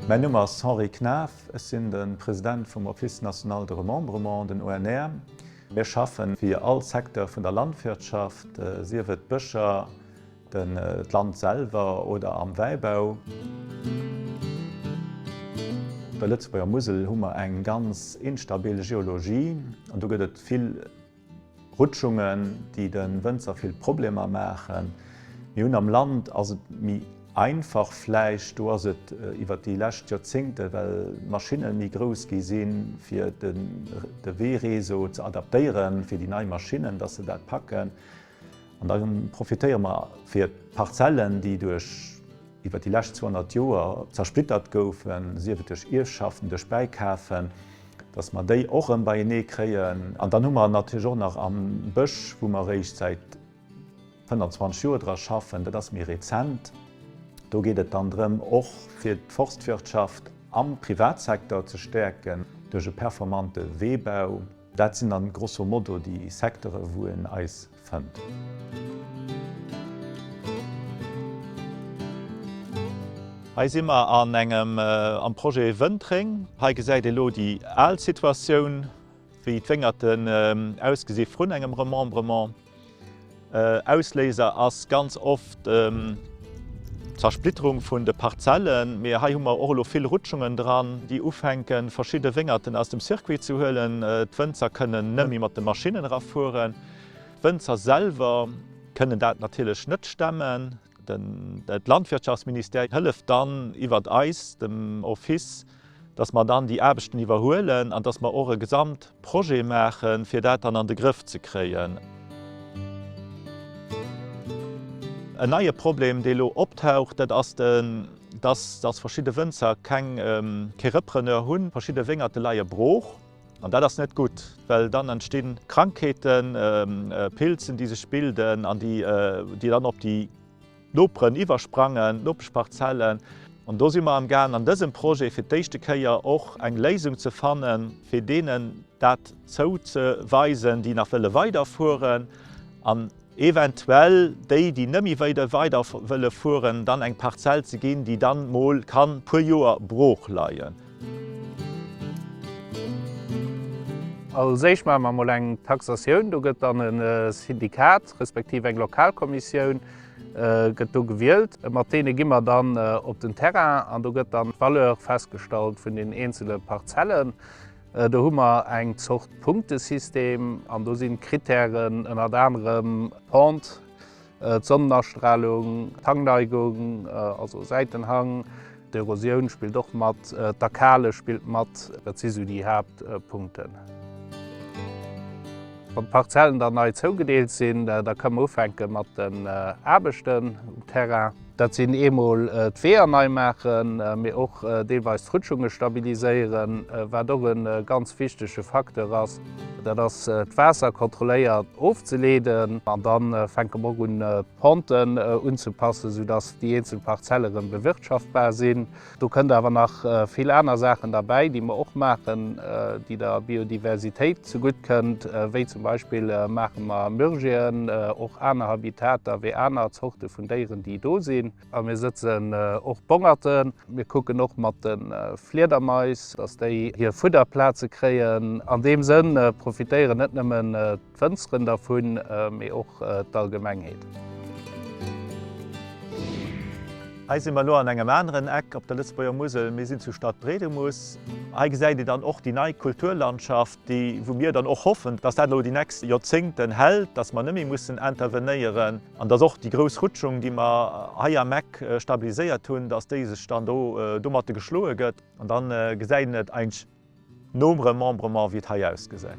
Mäin Numm ass Henri Knaff, ech sinn de President vum Office National de Remembrement, den ONR. Mir schaffen fir all Secteur vun der Landwirtschaft, sief et Bëscher, Den d'Land selwer oder am Wäibau. Op der Lëtzebuerger Musel hu mer eng ganz instabil Geologie an do gëtt et vill Rutschungen, déi de Wënzer vill Problemer maachen. Mir hunn am Land ass et méi einfach vläicht, do ass et iwwer déi lescht Joerzéngte well d'Maschinne méi grouss gi sinn, fir de Weereseau ze adaptéieren, fir déi nei Maschinnen, datt se dat packen. An da profitéiere mer fir d'Parzellen, déi duerch, iwwer déi lescht 200 Joer zersplittert goufen, sief et duerch Ierfschaften, duerch Bäikafen, dass mer déi och erëm beienee kréien. An dann hu mer natierlech och nach am Bësch, wou mer réischt säit 25 Joer dra schaffen, dat ass méi rezent, do geet et dann drëm, och fir d'Forstwirtschaft am Privatsektor ze stäerken duerch e performante Weebau. Dat sinn dann grosso modo déi Secteuren, wou een eis fënnt. Hei si mer an engem am Projet Wëntréng. Hei gesäit ee lo déi al Situatioun, wéi d'Wéngerten ausgesi vrun engem Remembrement. Ausléiser ass ganz oft d'Zersplitterung vun de Parzellen, mee hei hu mer och elo vill Rutschungen dran, déi ufänken, verschidde Wéngerten aus dem Circuit ze huelen. D'Wënzer kënnen net méi mat de Maschinnen erafueren. D'Wënzer selwer kënnen dat natierlech net stemmen. De Landwirtschaftsministère hëlleft dann iwwert eis, dem Office, dass mer dann déi Aarbechten iwwerhuelen an dass mer och e Gesamtprojet maachen, fir dat dann an de Grëff ze kréien. En neie Problem, dee elo optaucht, dat ass den, dass verschidde Wënzer keng Repreneur hunn. Verschidde Wéngerte leie brooch. An dat ass net gutt, well dann entsti Krankheeten, Pilzen, déi sech bilden an déi dann op déi Noperen iwwersprangen, d'Nopeschparzellen. An do si mer am Gaang an dësem Projet fir d'éischte Kéier och eng Léisung ze fannen, fir deenen dat zouzeweisen, déi nach wëlle weiderfueren. eventuell déi déi nëmme wéider weider wëlle fueren, dann eng Parzell ze ginn déi dann mol kann puer Joer brooch leien. Als éischt maache mer mol eng Taxatioun, do gëtt dann e Syndikat respektiv eng Lokalkommissioun gëtt do gewielt, mat deene gi mer dann op den Terrain an do gëtt dann d'Valeur festgestallt vun den eenzele Parzellen. Do hu mer eng Zort Punktesystem an do sinn d'Kritären ënnert anerem d'Pente, d'Sonnenastralung, d'Hangneigung, also Säitenhang, d'Erosioun spillt och mat, d'Akale spillt mat, dat si sou déi Haaptpunkten. Wann d'Parzellen dann nei zougedeelt sinn, da ka mer ufänke mat den Aarbechten um Terrain. Dat sinn eemol d'Weeër nei maachen, mee och deelweis d'Rutschunge stabiliséieren. Wat och e ganz wichtege Facteur ass, dat ass d'Waasser kontrolléiert ofzeleeden. An da fänke mer och un d'Ponten unzepassen, soudass déi eenzel Parzelle rëm bewirtschaftbar sinn. Do kënnt awer nach vill aner Saachen derbäi, déi mer och maachen, déi der Biodiversitéit zegutt kënnt, wéi zum Beispill maache mer Myrgien, och aner Habitater wéi aner Zorte vun Déieren, déi do sinn. A mir sëtzen och Bongerten. Mir kucken och mat de Fliedermais, dass déi hir Fudderplaze kréien. An deem Sënn profitéieren net nëmmen D'Wënzeren dervun, mee och d'Allgemengheet. Hei si mer elo an engem aneren Eck op der Lëtzebuerger Musel. Mir sinn zu Stadtbrédemus. Hei gesäit een dann och déi nei Kulturlandschaft, déi, wou mir dann och hoffen, dass dat elo déi nächst Joerzéngten hält, dass mer net méi mussen intervenéieren an dass och déi grouss Rutschung, déi mer hei am Eck stabiliséiert hunn, dass déi sech dann do domatte geschloe gëtt. An da gesäit een et eigentlech. Nom Remembrement wéi et hei ausgesäit.